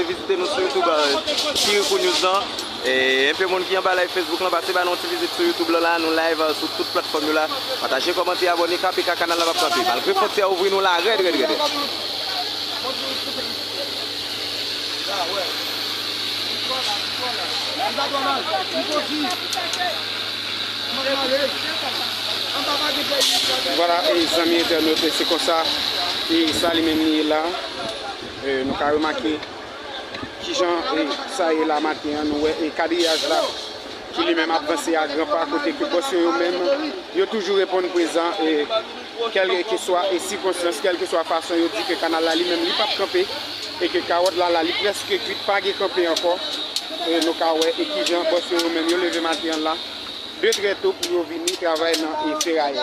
Pase vizite nou sou youtube Kirikou News lan Enpe moun ki anba live Facebook lan pase ba nou yon ti vizit sou youtube lan la Nou live sou tout platfòm yo la Pataje kòmante abòne KPK kanal la pap kanpe Malgre fontyè a ouvri nou la rèd rèd rèd Vwala zanmi entènot se konsa e sa li menm li ye la. Nou ka remake kijan sa ye la maten an, nou wè kadriyaj la ki li menm ap vanse a gran pa kote ke bòs yo yo menm yo toujou reponn prezan kèlkeswa sikonstans, kèlkeswa fason yo di ke kanal la li menm li pap kanpe e ke kawòt la la li prèske kwit pa gen kanpe ankò. Nou ka wè e kijan bòs yo yo menm yo leve maten an la de trè to pou yo vini travay nan ferayè.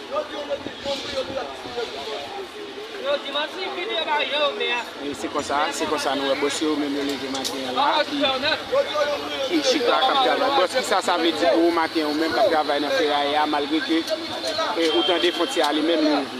Se konsa, se konsa nou wè bòs yo menm yo leve maten an la ki chita k ap travay. Bòs kisa sa vle di pou ou maten an ou menm k ap travay nan feraye a malgre ke ou tande fontyè a li menm li ouvri?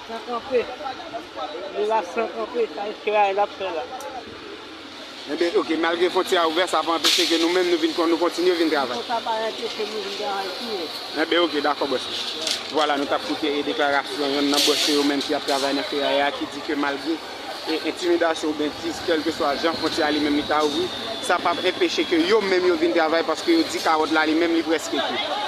San kanpe. Li la san kanpe. Sa eske bagay lap fè la. Enben ok malgre fontyè a ouvè sa pa anpeche ke nou menm nou vin nou kontinye vin travay. Bon sa pa anpeche nou vin travay tou ye. Enben ok dakò bòs mwen. Vwala nou tap koute e deklarasyon yonn nan bòs yo yo menm ki ap travay nan feraya a ki di ke malgre e entimidasyon oubyen di kèlkeswa jan fontyè a li menm li ta ouvri sa pap enpeche ke yo menm yo vin travay paske yo di kawòt la li menm li prèske kout.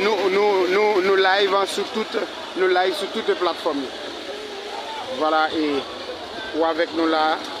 Nou live sou tout nou live sou toute platform yo Vwala e ou avèk nou la a.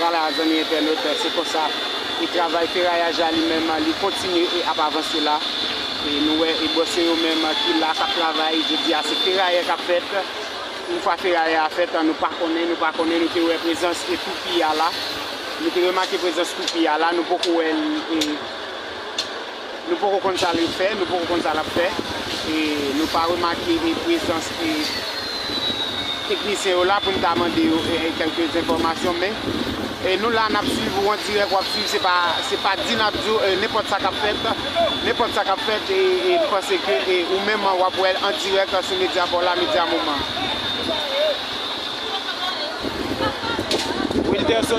Vwala zanmi entènot se konsa e travay ferayaj la li menm li kontinye e ap avanse la e nou wè e bòs yo yo menm ki la kap travay jodi a se ferayè kap fèt yn fwa ferayè a fèt nou pa konnen nou pa konnen nou te wè prezans e toupi a la nou te remake prezans toupi a la nou poko wèl e. Nou poko konn sa li fè, nou poko konn sa lap fè. E nou pa remake e prezans e teknisyen yo la pou n ta mande yo e kèlke enfòmasyon men e nou la nap swiv ou an dirèk wap swiv se pa se pa di nap di w e nenpòt sa kap fèt nenpòt sa kap fèt e e m panse ke e ou menm an wap wè l an dirèk sou medya pa w la medya moman an. Wilderson